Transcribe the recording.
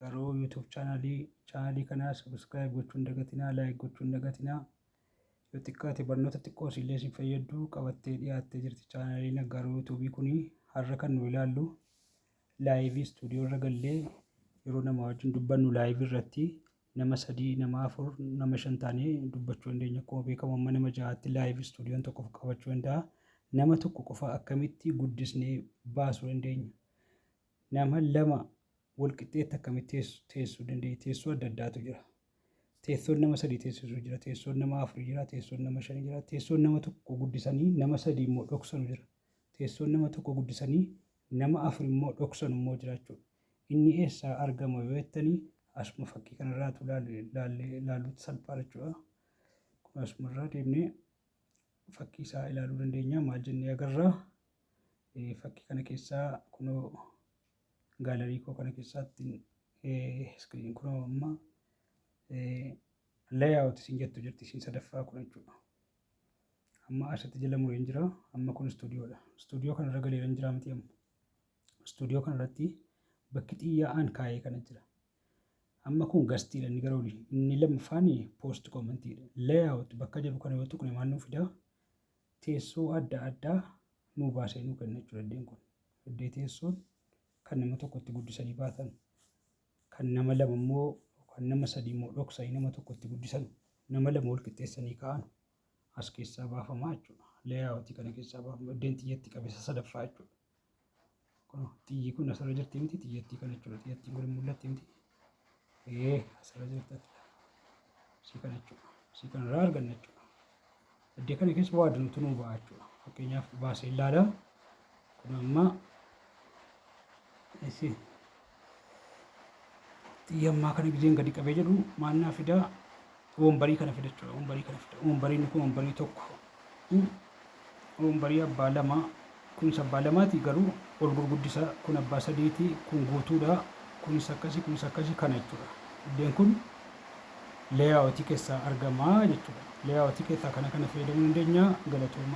Garuu YouTube chaanaalii chaanaalii kanaa subscribe gochuun dagatinaa like gochuun dagatinaa yoo xiqqaate barnoota xiqqoo illee isin fayyaddu qabattee dhiyaattee jirti chaanaaliin garuu YouTube kun har'a kan nu ilaallu laayivii istuudiyoo irra gallee yeroo nama wajjin dubbannu laayivii irratti nama sadii nama afur nama shan taanee dubbachuu dandeenya akkuma beekamu amma nama ja'aatti laayivii istuudiyoon tokko qabachuu danda'a nama tokko qofa akkamitti guddisnee baasuu dandeenya Nama lama walqixxeetti akkamitti teessuu dandeenya? Teessoo adda addaatu jira. Teessoon nama sadii teessisu jira, teessoon nama afur jira, teessoon nama shan jira, teessoon nama tokko guddisanii nama sadii immoo dhoksanu jira. Teessoon nama tokko guddisanii nama afur immoo dhoksanu immoo jiraachuu. Inni eessaa argama yoo jettanii asuma fakkii kanarraatu ilaaluutti salphaa jechuudha. Kun asumarraa deemnee fakkii isaa ilaaluu dandeenya maal jennee agarraa? Fakkii kana keessaa kunoo gaalarii koo kana keessaatti iskiriin kunoo amma layout isin jettu jirti isin sadaffaa kun jechuudha. Amma asitti jala mureen jira amma kun istuudiyoodha. Istuudiyoo kanarra galeera hin jira miti amma. Istuudiyoo kanarratti bakki xiyyaa'aan kaa'ee kana jira. Amma kun gastiidha inni gara olii. Inni lammaffaan poost koomantiidha. Layout bakka jedhu kana yoo tuqne maal nuu fidaa? teessoo adda addaa nuu baasee nuu kenna jechuudha iddeen kun. Iddee teessoon kan nama tokko itti guddisanii baatan, kan nama lama immoo kan nama sadii immoo dhoksanii nama tokko itti guddisan, nama lama wal qixxeessanii kaa'an as keessaa baafamaa jechuudha. Leeyaawwatii kana keessaa baafama. Iddeen xiyyatti qabeessa sadaffaa jechuudha. Kun xiyyi kun asirra jirti miti xiyyattii kana jechuudha. Xiyyattiin kun mul'atti miti. Ee asirra jirti. Si kana jechuudha. Si kana irraa arganna jechuudha. Iddoo kana keessa waa adda nutti nuu ba'a jechuudha. Fakkeenyaaf baasee ilaala. Kun amma si Xiyya ammaa kana gizeen gadi qabee jedhu maal naa fida? Wombarii kana fida jechuudha. Wombarii kana fida. Wombariin kun wombarii tokko. Wombarii abbaa lama. Kunis abbaa lamaati garuu ol gurguddisa. Kun abbaa sadiiti. Kun guutuudha. Kunis akkasi kunis akkasi kana jechuudha. Iddeen kun leeyaawotii keessaa argama jechuudha. Leeyaawotii keessaa kana kana fayyadamuu dandeenya galatooma.